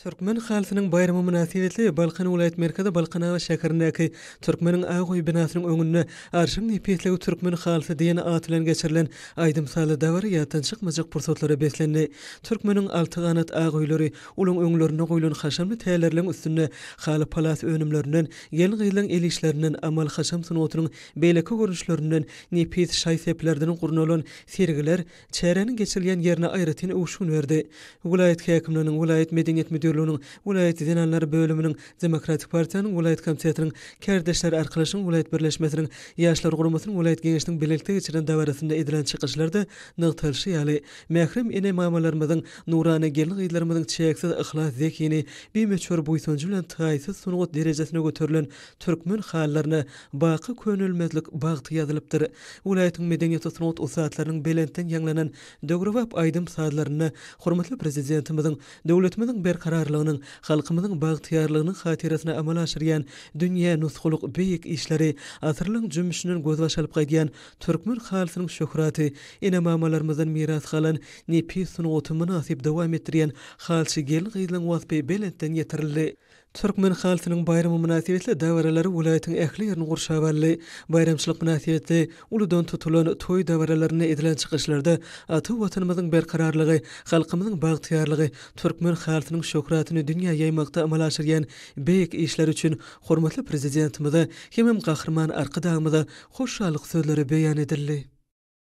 Türkmen halysynyň baýramy mynasybetli Balkan welaýat merkezi Balkanabat şäherindäki Türkmeniň ak öýi binasynyň öňünde Arşyň nepisligi türkmen halysy diýen at bilen geçirilen aýdym-sazly dabara ýatdan çykmajak pursatlara beslendi. Türkmeniň alty ganat ak öýleri ulaň öňlerinde goýlan haşamly tälerleň üstünde haly-palas önümlerinden, gelin-gyzlaň el işlerinden, amal-haşam sungatynyň beýleki görnüşlerinden, nepis şaý-seplerden gurnalan sergiler, çäräniň geçirilýän ýerine aýratyn öwüşgin berdi. Welaýat häkimliginiň, welaýat medeniýet müdirliginiň, welaýat zenanlar bölüminiň, Demokratik partiýanyň welaýat komitetiniň, Kärdeşler arkalaşygynyň welaýat birleşmesiniň, Ýaşlar guramasynyň welaýat geňeşiniň bilelikde geçiren dabarasynda edilen çykyşlarda nygtalyşy ýaly, mährem ene-mamalarymyzyň, nurana gelin-gyzlarymyzyň çäksiz yhlas zehini, bimöçber buýsanjy bilen taýsyz sungat derejesine göterilen türkmen halylaryna, Baky könelmezlik bagty ýazylypdyr. Welaýatyň medeniýet-sungat ussatlarynyň belentden ýaňlanan döwrebap aýdym-sazlarynda hormatly Prezidentimiziň döwletimiziň berkararlygynyň, halkymyzyň bagtyýarlygynyň hatyrasyna amala aşyrýan dünýä nusgalyk beýik işleri, asyrlaryň jümmüşinden gözbaş alyp gaýdýan türkmen halysynyň şöhraty, ene-mamalarymyzdan miras galan nepis sungaty mynasyp dowam etdirýän halyçy gelin-gyzlaryň waspy belentden ýetirildi. Türkmen halysynyň baýramy mynasybetli dabaralar welaýatyň ähli ýerini gurşap aldy. Baýramçylyk mynasybetli uludan tutulan toý dabaralarynda edilen çykyşlarda ata Watanymyzyň berkararlygy, halkymyzyň bagtyýarlygy, türkmen halysynyň şöhratyny dünýä ýaýmakda amala aşyrýan beýik işleri üçin hormatly Prezidentimize hemem Gahryman Arkadagymyza hoşallyk sözleri beýan edildi.